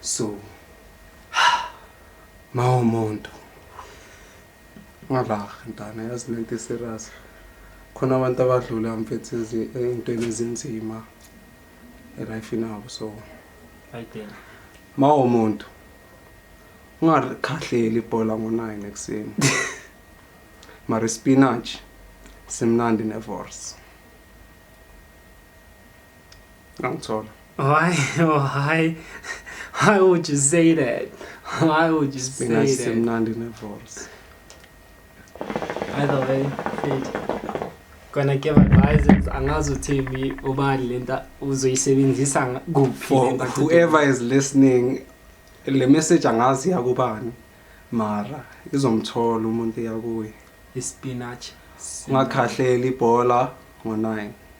So mawumuntu ngalaha ntana yazi lento serious khona abantu abadlula mfethu ezintweni ezinzima elife nabo so ayidela mawumuntu ungakhahleli ibhola ngo-9 ekuseni mari spinach simnandi nevorce Ngangithola. Why? Why? Why would you say that? Why would you say Mina that? sisemnandi nevoice. Either way, fit. Gonna give advices. Angazi uthini ubani lenta uzoyisebenzisa nga- kuphi For lenta kude. whoever is listening, le message angazi yakubani. Mara izomthola umuntu yakuye. Ispinach. Ungakhahleli ibhola ngo-9.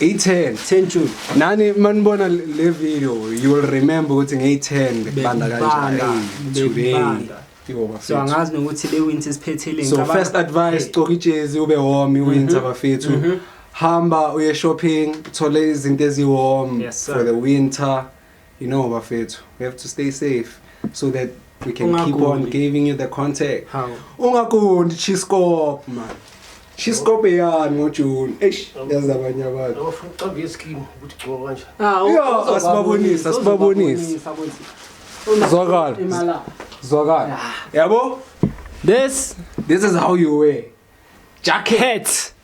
i-10 10 June nani manibona le video you will remember ukuthi ngeyi-10 bekubanda kanjani so angazi nokuthi le winter siphethele so first advice gcoka ijezi ube warm iwinter mhm. bafethu mhm. hamba uye shopping thole izinto eziwarm for the winter You know bafethu, we have to stay safe so that we can Ungagundi. keep on giving you the contact. How? Ungagundi Chiscop man. Chiscop yani ngo June. Eish, yazi abanye abantu. Awufuna ucambe iskin ukuthi gcoka kanje. Ah, Yo, asibabonise, asibabonise. Zwakala. Imala. Zwakala. Yabo? This This is how you wear. Jacket. hat.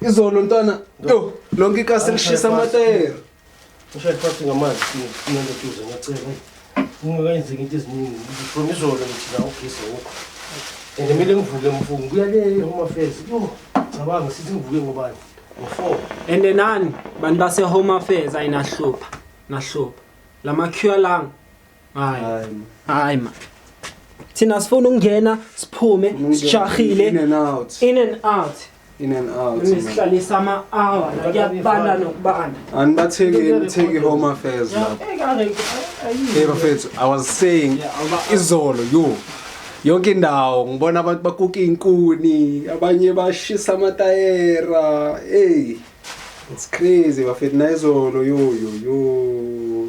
Izolo ntwana yo lonke ikasi lishisa amatayera. Ngishaya phansi ngamanzi nalo duze ngacela. Ungakayenzeki into eziningi. From izolo ngithi la ugesi wokho. And mina ngivuke mfungo kuya le home affairs. Yo cabanga sithi ngivuke ngobani? Ngo4. And nani bantu base home affairs ayinahlupha. Nahlupha. Lama cure lang Hayi. Hayi. Hayi ma. Thina sifuna ukungena, siphume, In sijahile. and out. In and out. In and out. man. Nisihlalisa ama hour la kuyabanda nokubanda. Anibathekeni take home affairs lapho. Hey bafethu, I was saying izolo yo yonke indawo ngibona abantu bakuka inkuni, abanye bashisa amatayera. Hey. It's crazy bafethu nayizolo yo yo yo.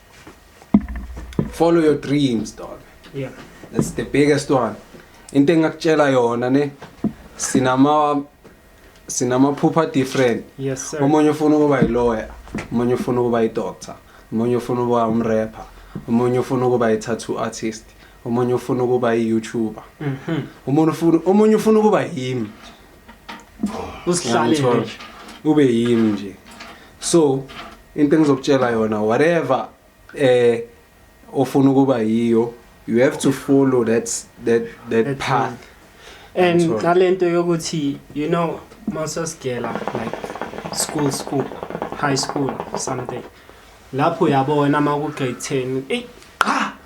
follow your dreams dog yeah that's the biggest one into engakutshela yona ne sinama sinamaphupha different yes sir omunye ufuna ukuba yilawyer omunye ufuna ukuba yidoctor omunye ufuna ukuba umrapper omunye ufuna ukuba yi-tattoo artist omunye ufuna ukuba yi-youtuber mhm. omunye ufuna omunye ufuna ukuba yimi usihlale ube yimi nje so into engizokutshela yona whatever eh ofuna ukuba yiyo you have to follow that that that, that path and nalento yokuthi you know masasgela like school school high school something lapho uyabona uma ku grade 10 eyi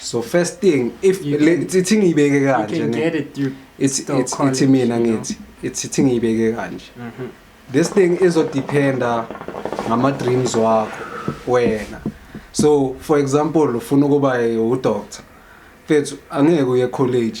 so first thing if You le- can- ithi ithi ngiyibeke You kanje can ne get it through. ithi still ithi- college, ithi mina you know. ngithi ithi ithi ngiyibeke kanje Mhm. this thing izodependa ngama-dreams wakho wena so for example ufuna ukuba udoctor fethu angeke uye college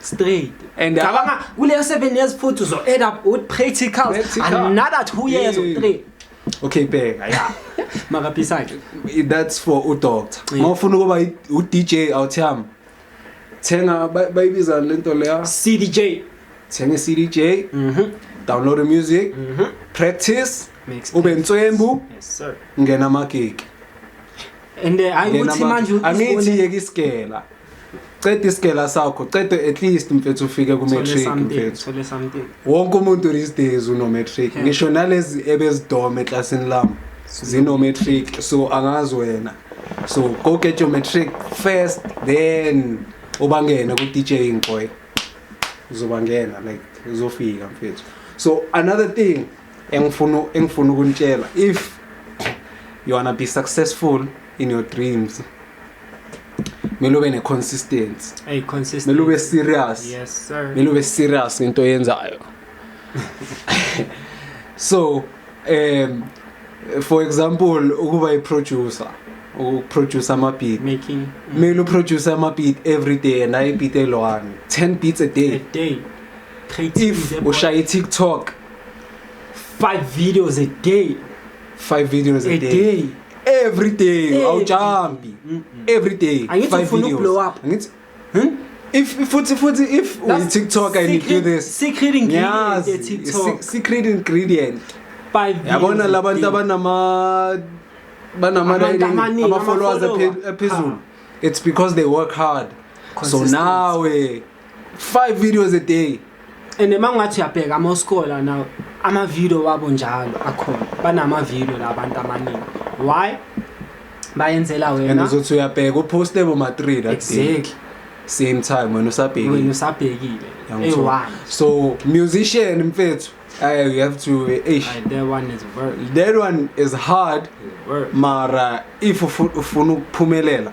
straight and cabanga kuleyo 7 years futhi uzo end up with practicals another 2 years or 3 okay bheka ya makaphisa nje that's for u doctor uma ufuna ukuba u DJ awuthiyama thenga bayibiza lento leya CDJ thenga CDJ mhm download the music mhm practice ube nswembu yes sir ngena magigi and uh, ayuthi manje angithi yeke isigela ceda isigela sakho ceda at least mfethu ufike ku-matric mfethu wonke umuntu these days uno-matric ngisho nalezi ebezidoma eklasini lami zino-matric so angazi wena so go get your matric first then ubangene ku-dj ngcoy uzobangena like uzofika mfethu so another thing engifuna engifuna ukunitshela if you wanna be successful in your dreams kumele ube ne-consistency Hey, consistent. kumele ube serious Yes, sir. kumele ube serious ngento oyenzayo so um for example ukuba i-producer ukuproduce ama-beat Making kumele uproduce ama-beat every day and ayi-beat elwani 10 beats a day a day. Creating if the- ushaya i-tiktok 5 videos a day 5 videos a, a day, day. every day awujambi every day angithi ufuna ukublow up angithi hmm? if futhi futhi if uyi TikTok and you do this secret ingredient ye TikTok secret ingredient yabona labantu abanama banama ama followers aphezulu it's because they work hard so nawe 5 videos a day and emangathi uyabheka ama scholar now ama video wabo njalo akhona banama video labantu amaningi why bayenzela wena and uzothi uyabheka uposte bo ma 3 that exactly day. same time wena usabhekile wena usabhekile e1 so musician mfethu I you have to eish. that one is work. That one is hard. Work. Mara if ufuna ukuphumelela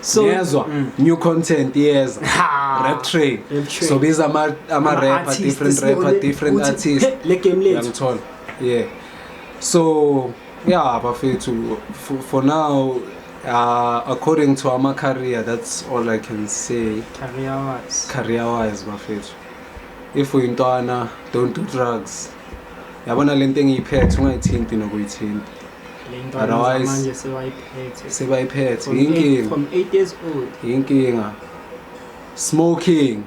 so yezwa mm. new content yeza rap train so biza ama ama rapper different rapper different artist le game lethu ngithola yeah so yeah bafethu for, for now uh, according to our career that's all i can say career wise career wise bafethu if uyintwana don't do drugs yabona le nto engiyiphethe ungayithinti nokuyithinta otherwise sebayiphethe yinkinga yinkinga smoking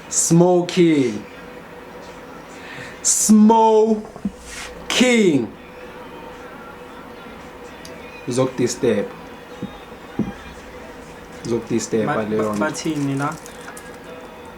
smoking smoking uzokudisturb uzokudisturba leyo bathini la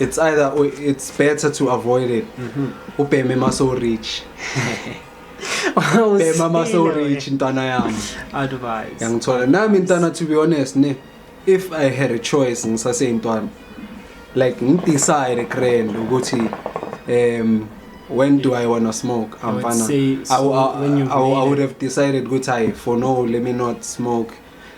it's either or it's better to avoid it mm-hmm. ubheme ma so rich bhema ma so rich ntwana yami advice yangithola nami ntwana to be honest ne if i had a choice ngisaseyintwana like ngidecide grand ukuthi um when do I want to smoke? I'm I would, say, so I, I, I, I would have decided, good, I, for no, let me not smoke.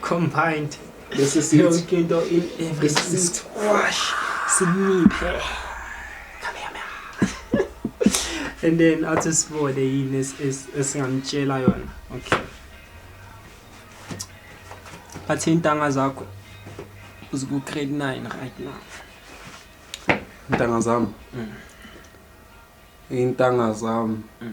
combined bese sithi yonke into in every sithi wash siniphe come here man and then athi sibone yini esingamtshela yona okay bathi intanga zakho uziku grade 9 right now intanga zami mm. intanga zami mm.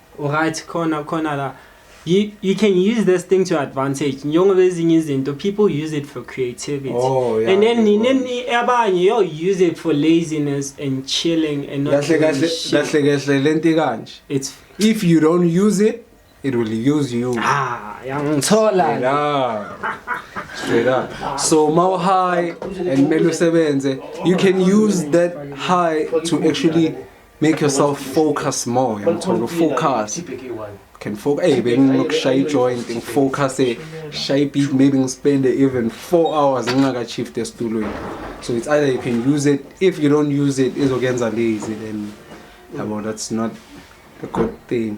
Alright khona khona la you you can use this thing to advantage njengoba ezinye izinto people use it for creativity oh, yeah, and then nina abanye yo use it for laziness and chilling and not kahle kahle kahle kahle lento kanje it's if you don't use it it will use you ah yangithola straight up so mau high and melu sebenze you can use that high to actually Make yourself focus more uyamthola ufocus can focus hey benginokushaya ijoint ngifocus eh, shaye beat maybe ngispende even 4 hours ngingaka-shift esitulweni so it's either you can use it if you don't use it izokuyenza lazy then yabo that's not a good thing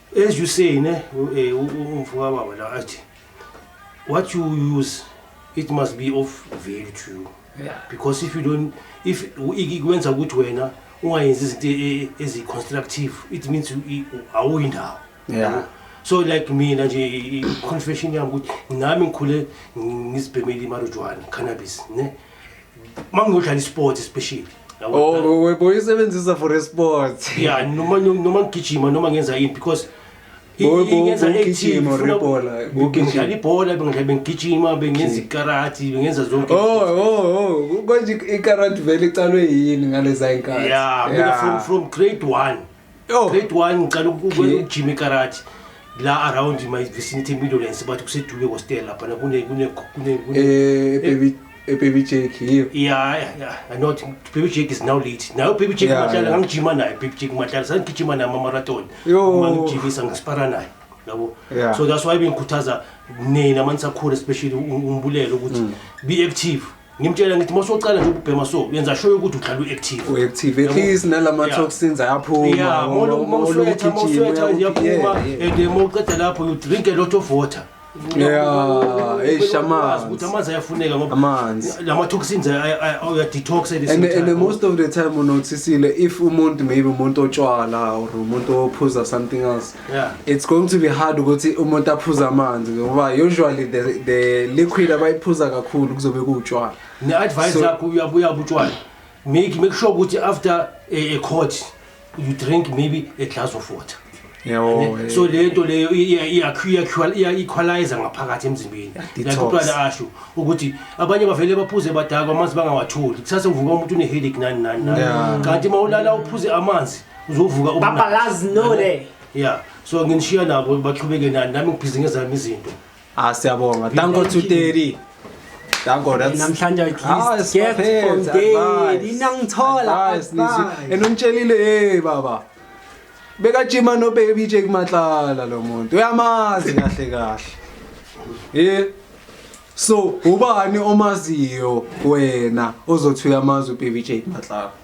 as you say ne eh, umfoka baba la athi what you use it must be of value to you yeah. because if you don't if ikwenza ukuthi wena ungayenzi izinto e, e, ezi-constructive it means awuyindawo yeah. so like mina nje i-confession yami ukuthi nami ngikhule ngizibhemele imarujwana cannabis ne yeah. mangiyodlala isport especially oh webo isebenzisa for esport yeah noma noma ngigijima noma ngenza yini because ngenza ngigijima rebhola ngidlala ibhola bengihlale bengigijima bengenza ikarati bengenza zonke oh oh oh konje ikarati vele iqalwe yini ngaleza inkhathi yeah mina from from grade 1 Yo. Grade 1 ngicela Okay. ukujima ikarate la around my vicinity middlelands bathi kusedube kostela lapha na kune kune kune kune Eh, baby, eh, baby Jake, yiyo. Yeah, yeah, yeah. I know it- Baby Jake is now late. Now Baby Jake Yeah, Matala yeah. ngangijima naye Baby Jake Matala sangigijima naye ama-marathon. Yo. Uma ngijimisa ngisipara naye. Yabo. Yeah. So that's why bengikhuthaza nina manisakhula especially u- umbulelo ukuthi Mm. be active. ngimtshela ngithi masuqala nje ukubhema so yenza sure ukuthi uhlala uactive uactive at least nalama toxins ayaphuma uma uswetha uma uswetha yaphuma and uma uqeda lapho you drink a lot of water yeah hey shaman ukuthi amanzi ayafuneka ngoba amanzi lama toxins uya detox and and most of the time unothisile if umuntu maybe umuntu otshwala or umuntu ophuza something else Yeah. It's going to be hard ukuthi umuntu aphuza amanzi ngoba usually the, the liquid abayiphuza kakhulu kuzobe kuwutshwala. Ne advice so, yakho uyabuya butshwala. Make make sure ukuthi after a, a court you drink maybe a glass of water. Yabo. Eh, so lento leyo iyakhwaliza ngaphakathi emzimbeni. Like uqala asho ukuthi abanye bavele baphuze badakwa amanzi bangawatholi. Kusase uvuka umuntu une headache nani nani nani. Kanti mawulala uphuze amanzi uzovuka uba- Papa Laz no le. yeah so nginishiya nabo baqhubeke nani nami ngibhizi ngezami izinto Ah siyabonga. Thank God to Terry. Thank God that's Namhlanje at Ah, least get siphethe, from day. advice. Ninangithola Advice, nisi- advice. And ungitshelile hey baba. Bekajima no baby Jake Matlala lo muntu. Uyamazi kahle kahle. Eh So ubani omaziyo wena ozothi uyamazi ubaby Jake Matlala?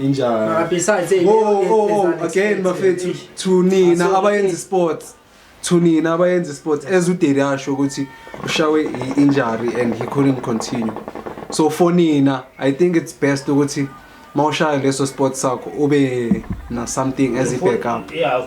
injani Ah, besides, hey, oh leyo oh oh ngezansi again expensive. bafethu Eish. to nina Aso- abayenza sports to nina abayenza sports as udeli asho ukuthi ushawe i- injury and he couldn't continue so for nina i think it's best ukuthi mawushaya leso sport sakho ube na something as a backup Yeah,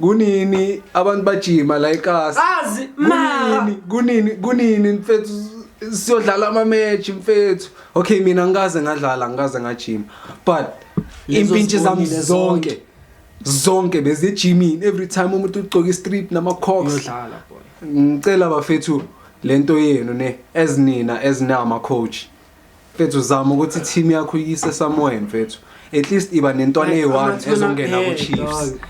kunini abantu bajima la ekhasi azi mara kunini kunini mfethu siyodlala ama match mfethu okay mina ngikaze ngadlala ngikaze ngajima but impintshi zami zonke zonke bezijimini every time umuntu ugcoka istrip nama cox yodlala boy ngicela bafethu lento yenu ne ezinina ezinama coach mfethu zama ukuthi team yakho iyise somewhere mfethu at least iba nentwana Like, eyi-one amathuna ezongena ahead, ku-chiefs dog.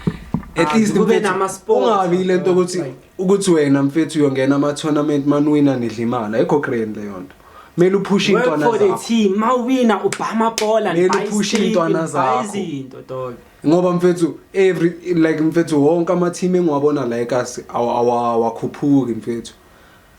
at Ah, least kube mfethu, nama-sport, ungabi ile nto ukuthi like- ukuthi wena mfethu uyongena ama-tournament manuwina nidla imali ayikho grand leyo nto kumele uphushe Work iy'ntwana for the zakho team. Mawina ubha amabhola Kumele nibuy uphushe strip, iy'ntwana nibuy zakho. izinto dog. ngoba mfethu every like mfethu wonke ama-team engiwabona la ekasi awa- awa- awakhuphuki mfethu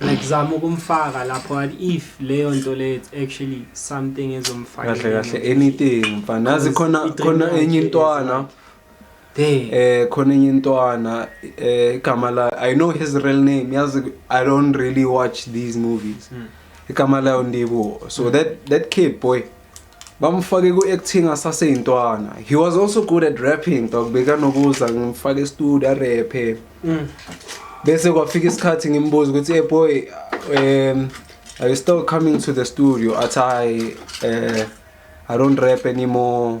like zama ukumfaka lapho what if leyo nto leyo it's actually something ezomfaka kahle kahle anything mfana nazi khona khona enye intwana eh khona enye intwana eh igama la i know his real name yazi i don't really watch these movies hmm. igama layo ndibo so hmm. that that kid boy bamfake ku-acting asaseyintwana he was also good at rapping dog bekanokuza ngimfake estudio arephe mm. bese kwafika isikhathi ngimbuza ukuthi e boy um are you still coming to the studio athi hayi um i don't rap anymore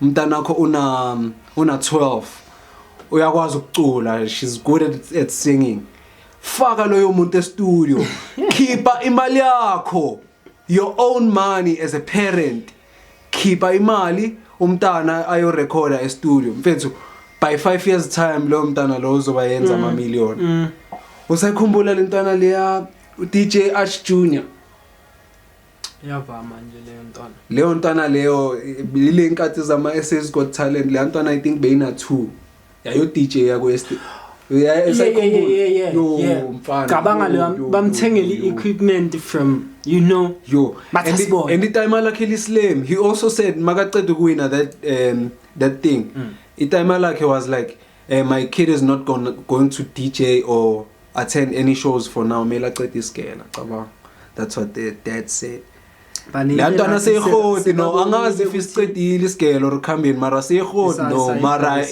Mntanakho una una 12. Uyakwazi ukucula. She's good at, at singing. Faka loyo muntu e-studio. Khipha imali yakho. Your own money as a parent. Khipha imali umntana ayo recorder e-studio. Mfethu by 5 years time lo mntana lo uzoba yenza ama million. Usakhumbula lentwana leya DJ Arch Junior? iyavama nje leyo ntwana leyo ntwana leyo lile nkathi zama SS got talent leyo ntwana i think beyina 2 yayo DJ yako est cabanga leyo bamthengela i-equipment from you know yo and itime lakhe lislem he also said makaceda ukuwina that um that thing mm. itime lakhe was like Eh my kid is not gonna, going to DJ or attend any shows for now. Mele aqede isigela, cabanga. That's what the dad said. la ntwana seyirhodi no angazi if isiqedile isigelo or khambeni mara seyirhodi no mara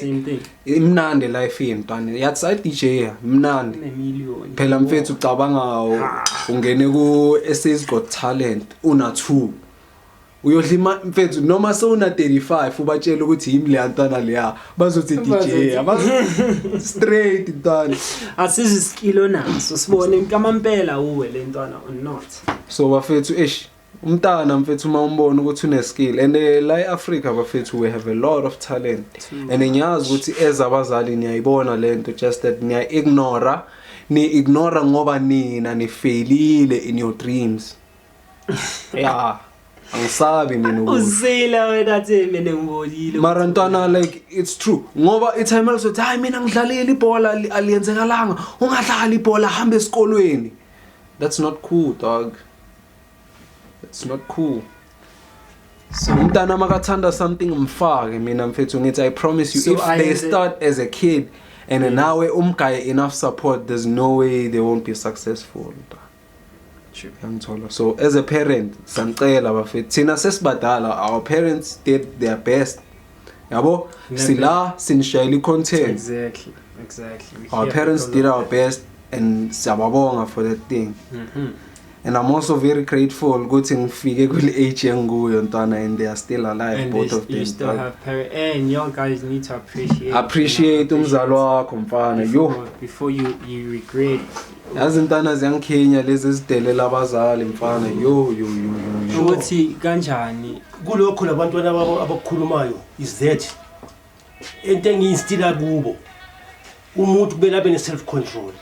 imnandi life yentwana yathi sa DJ mnandi phela mfethu ucabanga ungene ku SA's Got Talent una 2 uyodlima mfethu noma sewuna 35 ubatshela ukuthi yimi leya ntwana leya bazothi DJ abazo straight ntwana asizwe isikilo naso sibone inkampela uwe le ntwana or not so bafethu eish umntana mfethu uma umbona ukuthi une skill and eh, la eAfrica bafethu we have a lot of talent and ngiyazi ukuthi ezabazali niyayibona lento just that niya ignore ni ignore ngoba nina nifailile in your dreams ya angisabi mina ukuthi uzila wena athi mina ngibonile mara ntwana like it's true ngoba itime elizothi hayi mina ngidlalile ibhola ali- aliyenzekalanga ungadlali ibhola hamba esikolweni that's not cool dog that's not cool so umntana makathanda something mfake mina mfethu ngithi i promise you So if they ayenze- start as a kid and nawe umgaye enough support there's no way they won't be successful mntwana. yangithola so as a parent samcela bafethu thina sesibadala our parents did their best yabo sila sinishayela i-content exactly exactly we our parents did our best and siyababonga for that thing mm -hmm. and i'm also very grateful ukuthi ngifike kule age engikuyo ntwana and they are still alive and both of them still have parents and young guys need to appreciate appreciate umzali wakho mfana yo before you you regret yazi ntana ziyangikhinya lezi ezidelela abazali mfana yo yo yo yo, yo. ukuthi kanjani kulokho labantwana babo abakukhulumayo is that into engiyinstila kubo umuntu kumele abe ne-self control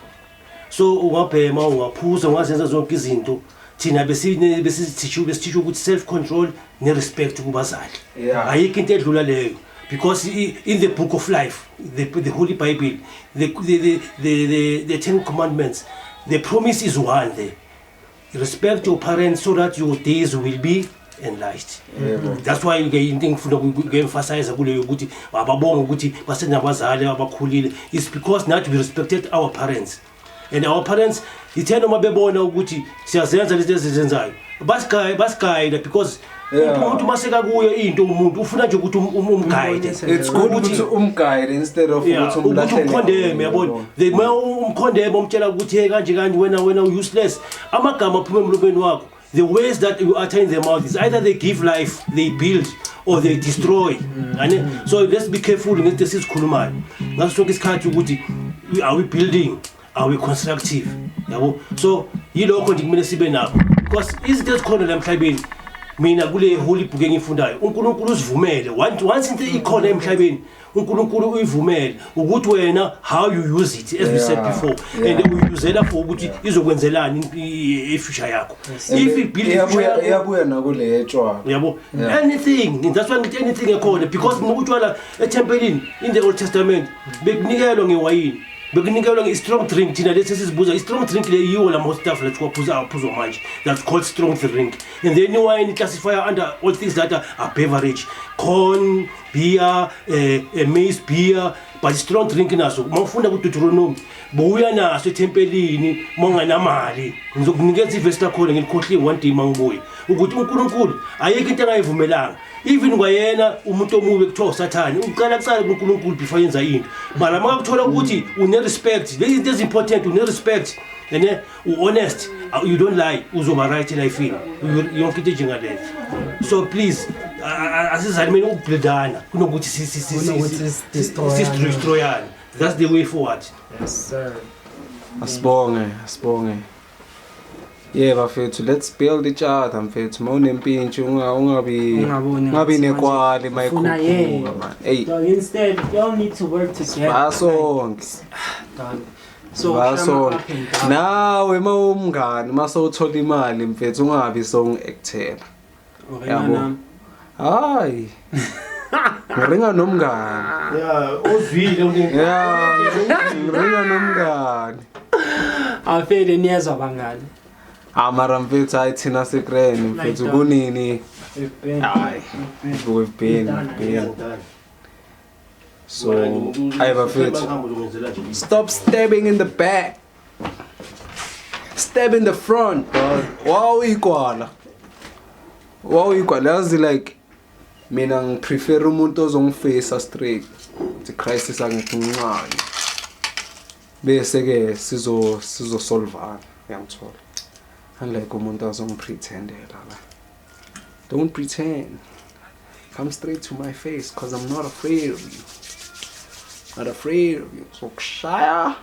so ungabhema ungaphuza ungazenza zonke izinto thina besithishwe besithishwe ukuthi self control ne-respect kubazali yeah. ayikho into edlula leyo because in the book of life the, the holy bible the, the, the, the, the, the ten commandments the promise is one there respect your parents so that your days will be enlarged mm-hmm. that's why ke into engifuna ukuemphasize kuleyo ukuthi ababonga ukuthi basenabazali abakhulile is because nathi we respected our parents mm -hmm. and our parents ithe noma bebona ukuthi siyazenza lezi ezizenzayo basigayida basigayida because Yeah. umuntu uma sekakuyo into umuntu ufuna nje ukuthi um- um- umgayide it's good ukuthi umguide instead of Yeah, ukuthi ukuthi umlahlele umkhondeme yabona they uma umkhondeme umtshela ukuthi hey kanje kanje wena wena useless amagama aphuma emlobeni wakho The ways that you utter in the mouth is either they give life, they build, or they destroy. Mm. So let's be careful ngento esizikhulumayo. Ngaso sonke isikhathi ukuthi are we building? Are we constructive? Yabo. So yilokho nje kumele sibe nakho. Because izinto ezikhona la emhlabeni mina kule holy book engifundayo uNkulunkulu usivumele once into ikhona emhlabeni uNkulunkulu uyivumele ukuthi wena how you use it as we said Yeah, before yeah. and uyuzela for ukuthi izokwenzelani i- i- future yakho if you build a future Iyabuya- yakho iyabuya nakuleya etshwala yabo Yeah. anything that's why ngithi anything ekhona because noma utshwala ethempelini in the old testament bekunikelwa ngewayini bekunikelwa nge-strong drink thina lesi esizibuza i-strong drink le yiwo la mostaf la thiwaphuza aphuzwa manje that's called strong drink and then iwayini classify under all things that are, are beverage corn beer eh, eh maize beer but strong drink naso uma ufunda ku Deuteronomy buya naso ethempelini uma unganamali ngizokunikeza ivesi lakhona ngilikhohliwe one day mangibuye ukuthi uNkulunkulu ayikho into angayivumelanga even kwayena umuntu omubi kuthiwa usathane uqala kuqala kuNkulunkulu before yenza into bala makakuthola ukuthi une respect lezi zinto ezimportant une respect ene u-honest uh, you don't lie uzoba right elifini yonke into enjengaleyo so please asizalimeni ukubhildana kunokuthi sistroyane that's the way forward yes, sir. asibonge asibonge ye bafethu let's build each other mfethu ma unempintshi ungabi nekwali ma ikhuphuka man eyi basonke So, Baso nawe mawumngani mase uthola imali mfethu ungabi song actor. Yabo. Hayi. Ngiringa nomngani. Yeah, uzwile uningi. Yeah, ngiringa nomngani. Afele niyezwa bangani. Amara mfethu hayi thina sikreni mfethu kunini? Hayi. We've been, we've been. so ayi bafethu stop stabbing in the back step in the front wawuyigwala wawuyigwala yazi like mina ngiprefer umuntu ozongifeyisa straight the crisis angifuncayo bese-ke sizosolvana uyangithola unlike umuntu azongipretendela la Don't pretend. Come straight to my face because I'm not afraid of you. Not afraid of you. So kshaya.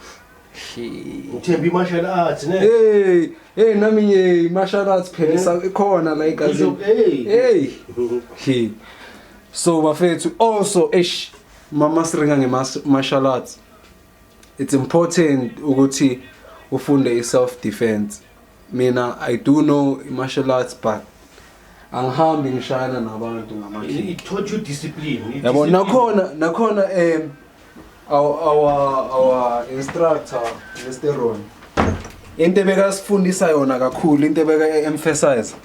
uthemba i-martial arts ne hey hey nami nje i-martial arts phela eh? ikhona la igazini hey hey so bafethu also eish mama siringa nge-martial arts it's important ukuthi ufunde i-self defense Mina I do know martial arts but angihambi ngishayana nabantu ngama It taught you discipline. It Yabo discipline- nakhona nakhona eh our our our instructor Mr. Ron into ebekasifundisa yona kakhulu into ebeka emphasize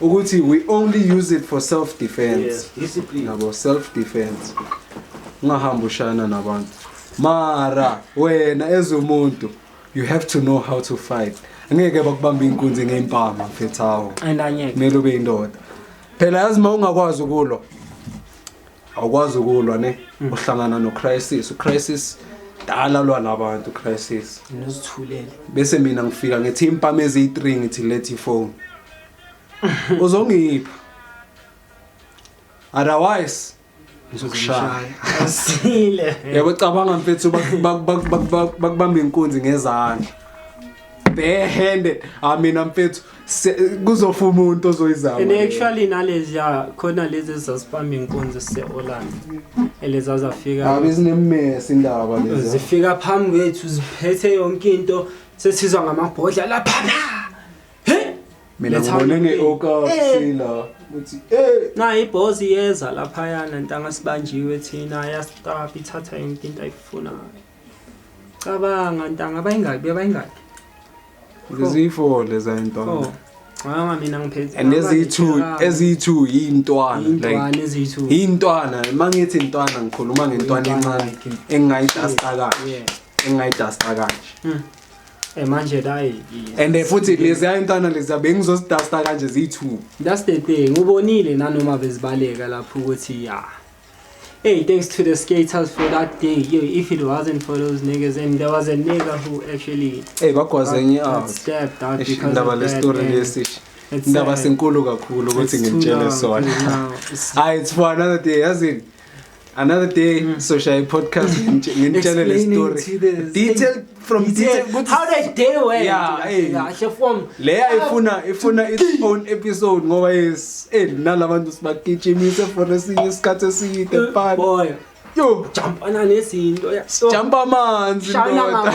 ukuthi we only use it for self defense. Yes, discipline. Yabo self defense. Ungahambi ushayana nabantu. Mara wena ezumuntu you have to know how to fight angeke bakubamba inkunzi ngeimpama mfethawo and angeke kumele ube indoda phela yazi uma ungakwazi ukulwa awukwazi ukulwa ne mm. uhlangana no crisis u crisis dala lwa nabantu crisis nozithulele bese mina ngifika ngithi impama eziyi3 ngithi let you phone uzongipha otherwise ngizokushaya asile yabo cabanga mfethu bakubamba inkunzi ngezandla bare handed i mean mfethu kuzofa umuntu ozoyizama and actually nalezi ya khona lezi ezasipamba inkunzi sise-orlando eleza zafika abe zinemesi indaba lezi zifika phambi kwethu ziphethe yonke into sesizwa ngamabhodla lapha mina ngibone ngeokasila eh. ukuthi eh na ibhozi yeza lapha yana ntanga sibanjiwe thina yastop ithatha yonke into ayifunayo cabanga ntanga bayingaki bayingaki ngiziyi-four leza intwana oh. Mama mina ngiphethe and eziyi-two eziyi-two yiyintwana like eziyi-two yiyintwana uma ngithi intwana ngikhuluma ngentwana encane engingayidasta kanje engingayidasta kanje Eh manje dayi. And eh, futhi lezi ayintana lezi bengizositasta kanje ziyi2. That's the thing. Ubonile nanoma bezibaleka lapho ukuthi ya. Hey, thanks to the skaters for that day. Yo, if it wasn't for those niggas and there was a nigga who actually Hey, bakwaze ngi out. Stepped out because ndaba le story lesi. Ndaba uh, senkulu kakhulu ukuthi ngitshele sona. Hayi, it's for another day. Yazini. another day mm. soshaya i-podcast nginitshele le story detail from detail how the day went eh. kahle from leya ah. ifuna ifuna its own episode ngoba yes eh nalabantu sibagijimise for esinye isikhathi eside eh, phan boy yo jump ana nezinto ya jump amanzi ndoda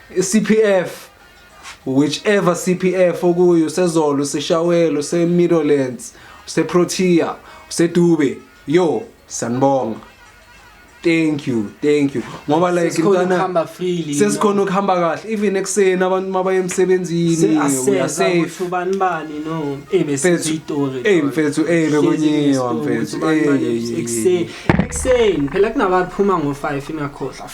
CPF whichever CPF okuyo sezolo seshawelo se Middlelands se Protea se Dube yo sanibonga thank you thank you ngoba like mntana sesikhona ukuhamba kahle even ekseni abantu mabaye emsebenzini uyasafe ubani bani no ebe sizitori eh mfethu eh bekunyiwa mfethu eh ekseni ekseni phela kunabaphuma ngo 5 ingakhohlwa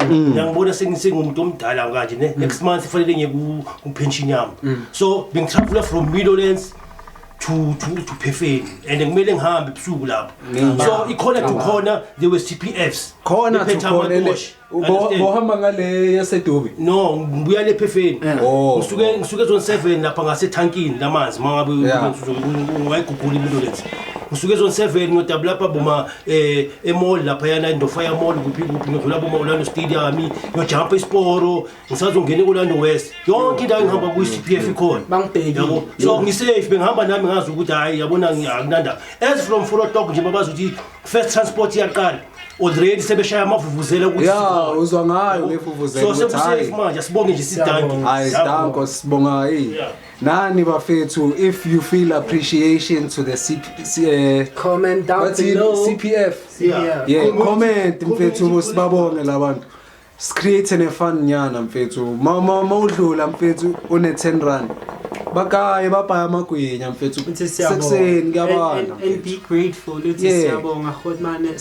Mm. ngiyangibona sengisengumuntu omdala kanje ne mm. next month kufanele ngiye kupension yami mm. so bengitraveler from middlelands to to to Phefeni and kumele ngihambe ebusuku lapho so ikhona to khona there was TPFs khona to khona bohamba ngale yasedubi no ngibuya le Phefeni oh. ngisuke ngisuke zone 7 lapha ngase tankini lamanzi mangabe ngizokungayigugula impilo lethu ngisuke zone 7 ngodabula lapha boma eh emall laphayana indofaya mall kuphi kuphi ngidlula kuma Orlando Stadium ngiyojumpa isiporo ngisazongena eOrlando West yonke indawo ngihamba ku CPF ikhona bangibheki yabo so ngisafe bengihamba nami ngazi ukuthi hayi yabona ngiyakunanda as from Fort Hawk nje babazi ukuthi first transport iyaqala already sebeshaya amavuvuzela ukuthi ya uzwa ngayo ngefuvuzela so sekusafe manje sibonge nje sidanke hayi danko sibonga hey Nani bafethu if you feel appreciation to the CP, C, eh, Comment down bathi below. CPF. Yeah. Yeah, Community- comment community mfethu policy. sibabonge labantu. Screate ne fun nyana mfethu. Mama mawudlula mfethu une 10 rand. Bakaye babhaya amagwinya mfethu. Uthi siyabonga. Sekuseni And- kuyabanda. and- and be grateful uthi Yeah. siyabonga Godmane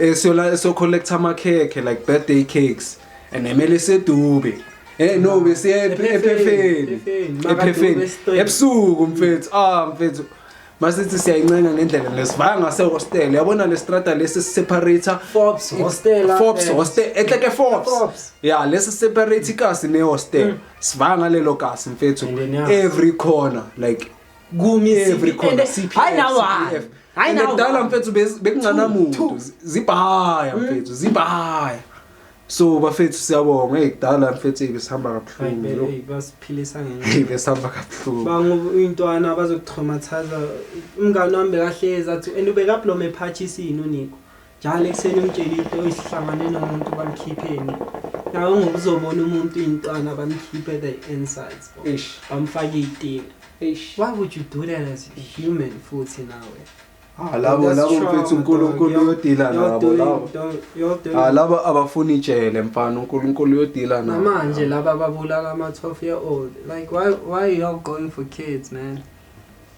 Eh siyola so collect amakhekhe like birthday cakes and emele sedube. Eh no bese ephefeni. Ephefeni. Ebusuku mfethu. Ah mfethu. Masithi siyayincenga ngendlela lesivaya ngase hostel. Yabona le strata lesi separator Forbes hostel. eh, Forbes hostel ehleke Forbes. Forbes. Yeah lesi separate ikasi ne hostel. Sivaya ngalelo kasi mfethu. Ngiyaniyazi. Every corner like kumi every corner CPF hayi nawa hayi nawa ngidala mfethu bekungcana muntu zibhaya mm. mfethu zibhaya so bafethu siyabonga hey kudala mfethu hey besihamba kabuhlungu hey basiphilisa ngenye hey besihamba kabuhlungu bangu intwana bazokutraumathaza umngane wami bekahlezi athi and ubekablome phathi isini uniko njalo ekuseni umtshele into isihlangane nomuntu bamkhipheni nawe ngokuzobona umuntu intwana bamkhiphe the insides ish bamfake itini ish why would you do that as a human futhi nawe Ah labo labo mfethu uNkulunkulu uyodila nabo labo. Ah labo abafuni ijele mfana uNkulunkulu uyodila nabo. Manje laba babulala ama 12 year old. Like why why are you all going for kids man?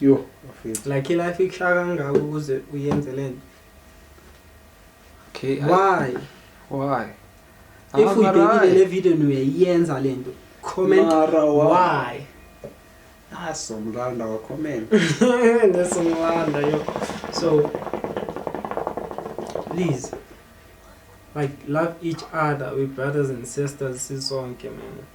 Yo, bafethu. Like life ikushaya kangaka ukuze uyenze lento. Okay. I- Why? Why? If I'm uyibhekile alright. le video niyayenza lento. Comment Mara wa- why? Ah, somlanda wa comment. Nesingwanda yo. So please like love each other we brothers and sisters sisonke man.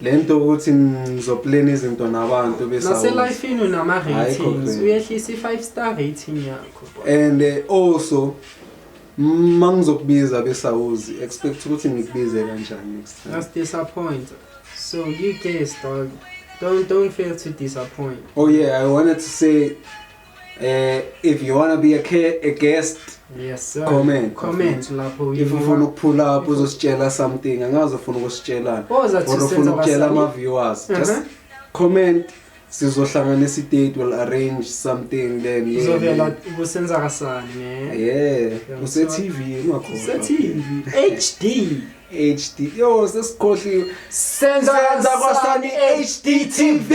lento ukuthi ngizoplana izinto nabantu besa naselifini unama ratings uyehlisa i5 star rating yakho and eh, also mangizokubiza besawuzi expect ukuthi ngikubize kanjani next time that's disappoint so you guess dog don't don't fail to disappoint oh yeah i wanted to say Eh if you wanna be a, ca- a guest Yes sir. Comment. Comment lapho. if ufuna ukuphula up uzositshela something angazi ufuna ukusitshelana Boza or thi ufuna senza ukutshela abasali. ama-viewers just Mhm. comment sizohlanganisa idate will arrange something then yeah, Uzovela man. kusenza kasani ne. yeah Yeah, use-tv ungakhohlwa. Sethivi HD. hd yo sesikhohliwe Senza senza kwasani kasani HD TV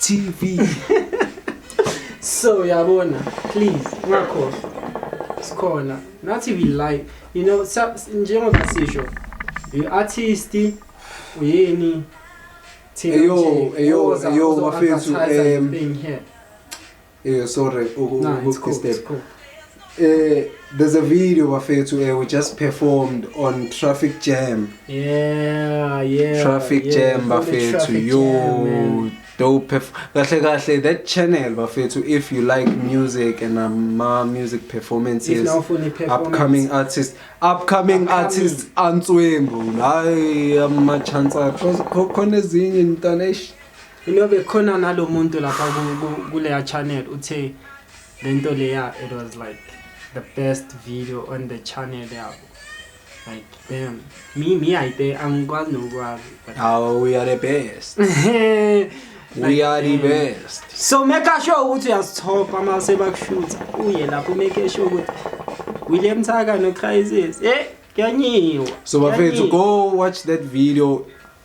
TV so yabona please ungakhohlwa sikhona nathi we live you know sa- njengoba sisho you artist uyini thina Eyo, nje eyo, oza- eyo, ozo- bafethu, advertise em, anything here. Eh sorry ukukudisturb. Nah, eh there's a video bafethu eh we just performed on traffic jam yeah yeah traffic yeah, jam bafethu yo dope kahle kahle that channel bafethu if you like music and um, ma music performances performance. upcoming artists upcoming, upcoming. artists antswembu hayi ama chance akho khona ezinye mntana eish You know bekhona nalo muntu lapha ku- ku- kuleya channel uthe lento leya it was like the best video on the channel yabo. Like damn. Me me I think angikwazi nokwazi. but- Awu we are the best. Like, We are the damn. best. So make sure ukuthi uyasithopa uma sebakushutha. Uye lapho make sure ukuthi William Thaka no Crisis. Eh, kuyanyiwa. So bafethu kuyanyiwa. go watch that video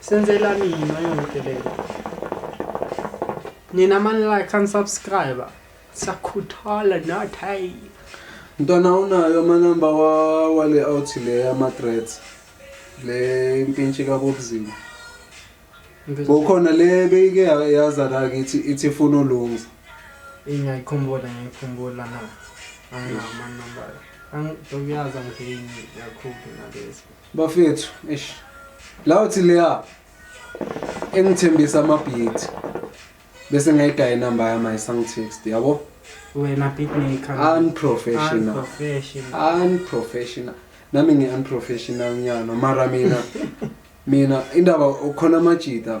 Senzela mina yonke lento. Nina mani like and subscribe. Sakhuthala not hey. Mntwana unayo amanamba wa wale out le ama threats. Le impintshi ka Bobzima. Bokhona le beyike yaza la kithi ithi funa ulungisa. Ingayikhumbula ngiyikhumbula na. Anginawo amanamba. Angidokyaza ngini yakhulu nalezi. Bafethu, eish. La uthi leya engithembisa amabhithi. Bese ngayidaya inamba yami ayisangitext, yabo? Wena beatmaker. Unprofessional. Unprofessional. Unprofessional. Nami ngi unprofessional nyana mara mina mina indaba ukhona amajita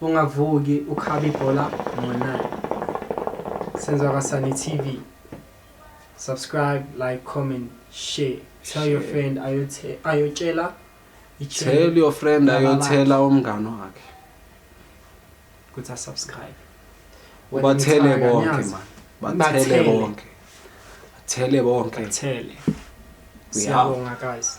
Ungavuki ukhabe ibhola ngo 9. Senzo Kasani TV. Subscribe, like, comment, share. Tell share. your friend ayothe ayotshela Tell your friend ayothela umngane wakhe. Kuthi a subscribe. Bathele bonke man. Bathele bonke. Bathele bonke. Bathele. Siyabonga guys.